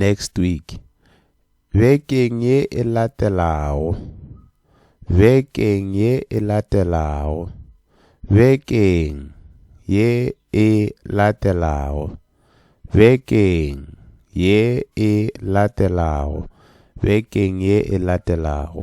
next week bekeng ye e latelago bekeng ye e latelago bekeng ye e latelago bekeng ye e latelago bekeng ye e latelago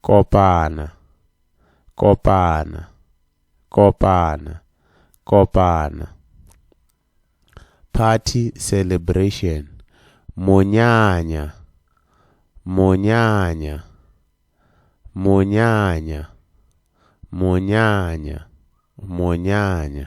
kopana kopana kopana kopana party celebration monyanya monyanya monyanya monyanya monyanya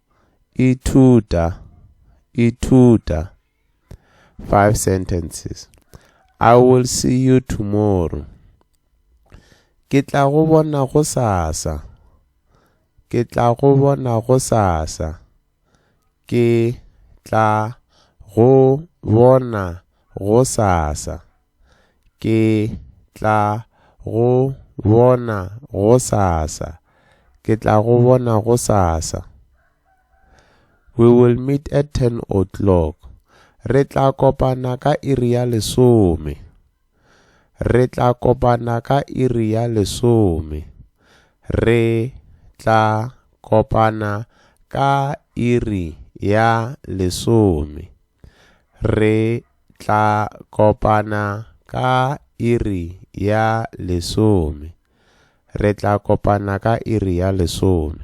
Ithuta, ithuta. Five sentences. I will see you tomorrow. Ke tla go bona go sasa. Ke tla go bona go sasa. Ke tla go bona go sasa. Ke tla go bona go sasa. Ke tla go bona go sasa. We will meet at 10 o'clock. Re tla kopana ka iri ya lesome. Re tla kopana ka iri ya lesome. Re tla kopana ka iri ya lesome. Re tla kopana ka iri ya lesome. Re tla kopana ka iri ya lesome.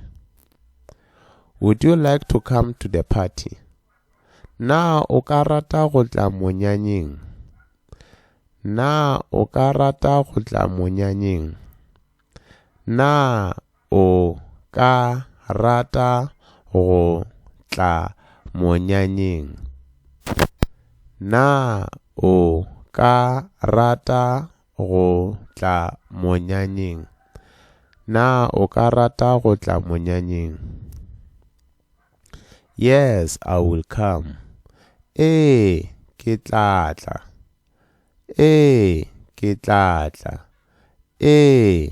Would you like to come to the party? Na o ka rata go tla monyanyeng? Na o ka rata go tla monyanyeng? Na o ka rata go tla monyanyeng? Na o ka rata go tla monyanyeng? Na o ka rata go tla monyanyeng? Yes, I will come. Ee, ke tla tla. Ee, ke tla tla. Ee,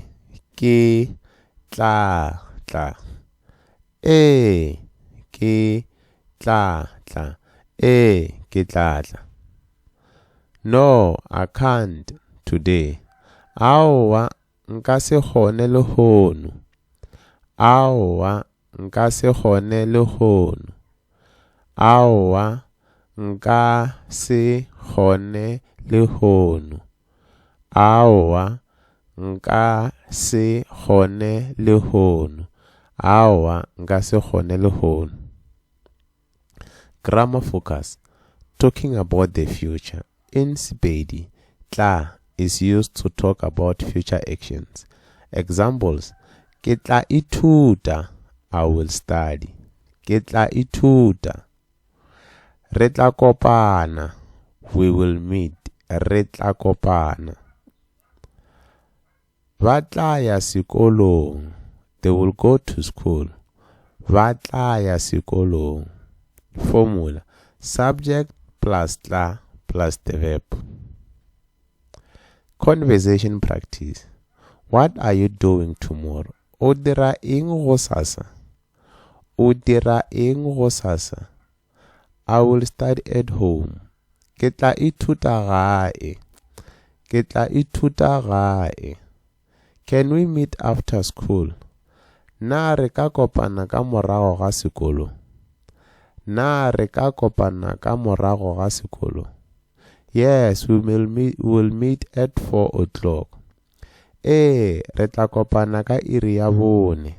ke tla tla. Ee, ke tla tla. Ee, ke tla tla. No, I can't today. Aowa, Nka se kgone lehono. Aowa, nka se kgone lehono. Aowa, nka se kgone lehono. Aowa, nka se kgone lehono. Aowa, nka se kgone lehono. Grammar Focus, Talking about the future, in Sepedi, tla is used to talk about future actions. Examples, Ke tla ithuta, I will study. Ke tla ithuta. Re tla kopana, we will meet. Re tla kopana. Ba tla ya sekolong. They will go to school. Ba tla ya sekolong. Formula, Subject plus tla plus the verb. Conversation practice. What are you doing tomorrow? O dira eng go sasa? O dira eng go sasa? I will start at home. Ke tla ithuta gae. Ke tla ithuta gae. Can we meet after school? Na re ka kopana ka morago ga sekolo? Na re ka kopana ka morago ga sekolo? Yes, we will meet, we will meet at 4 o'clock. Ee, re tla kopana ka iri ya bone.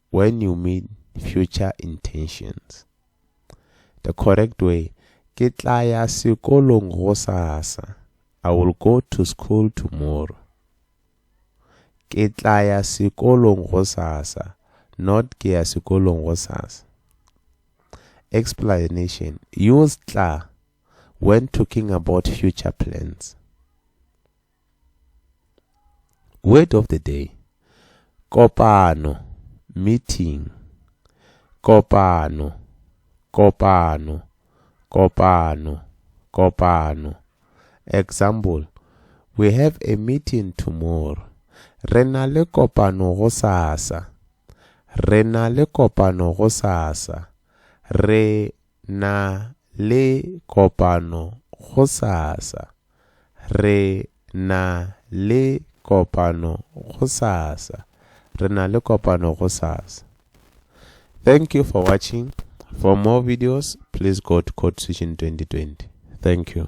When you mean future intentions. The correct way, Ke tla ya sekolong gosasa. I will go to school tomorrow. Ke tla ya sekolong gosasa, not ke ya sekolong gosasa. Explanation, Use tla when talking about future plans. Word of the day. Kopano, meeting. Kopano, kopano, kopano, kopano. Example. We have a meeting tomorrow. Re na le kopano go sasa. Re na le kopano go sasa. Re Na le kopano gosasa? Re na le kopano gosasa. Re na le kopano gosasa. Thank you for watching. For more videos, please go to Code Switching 2020. Thank you.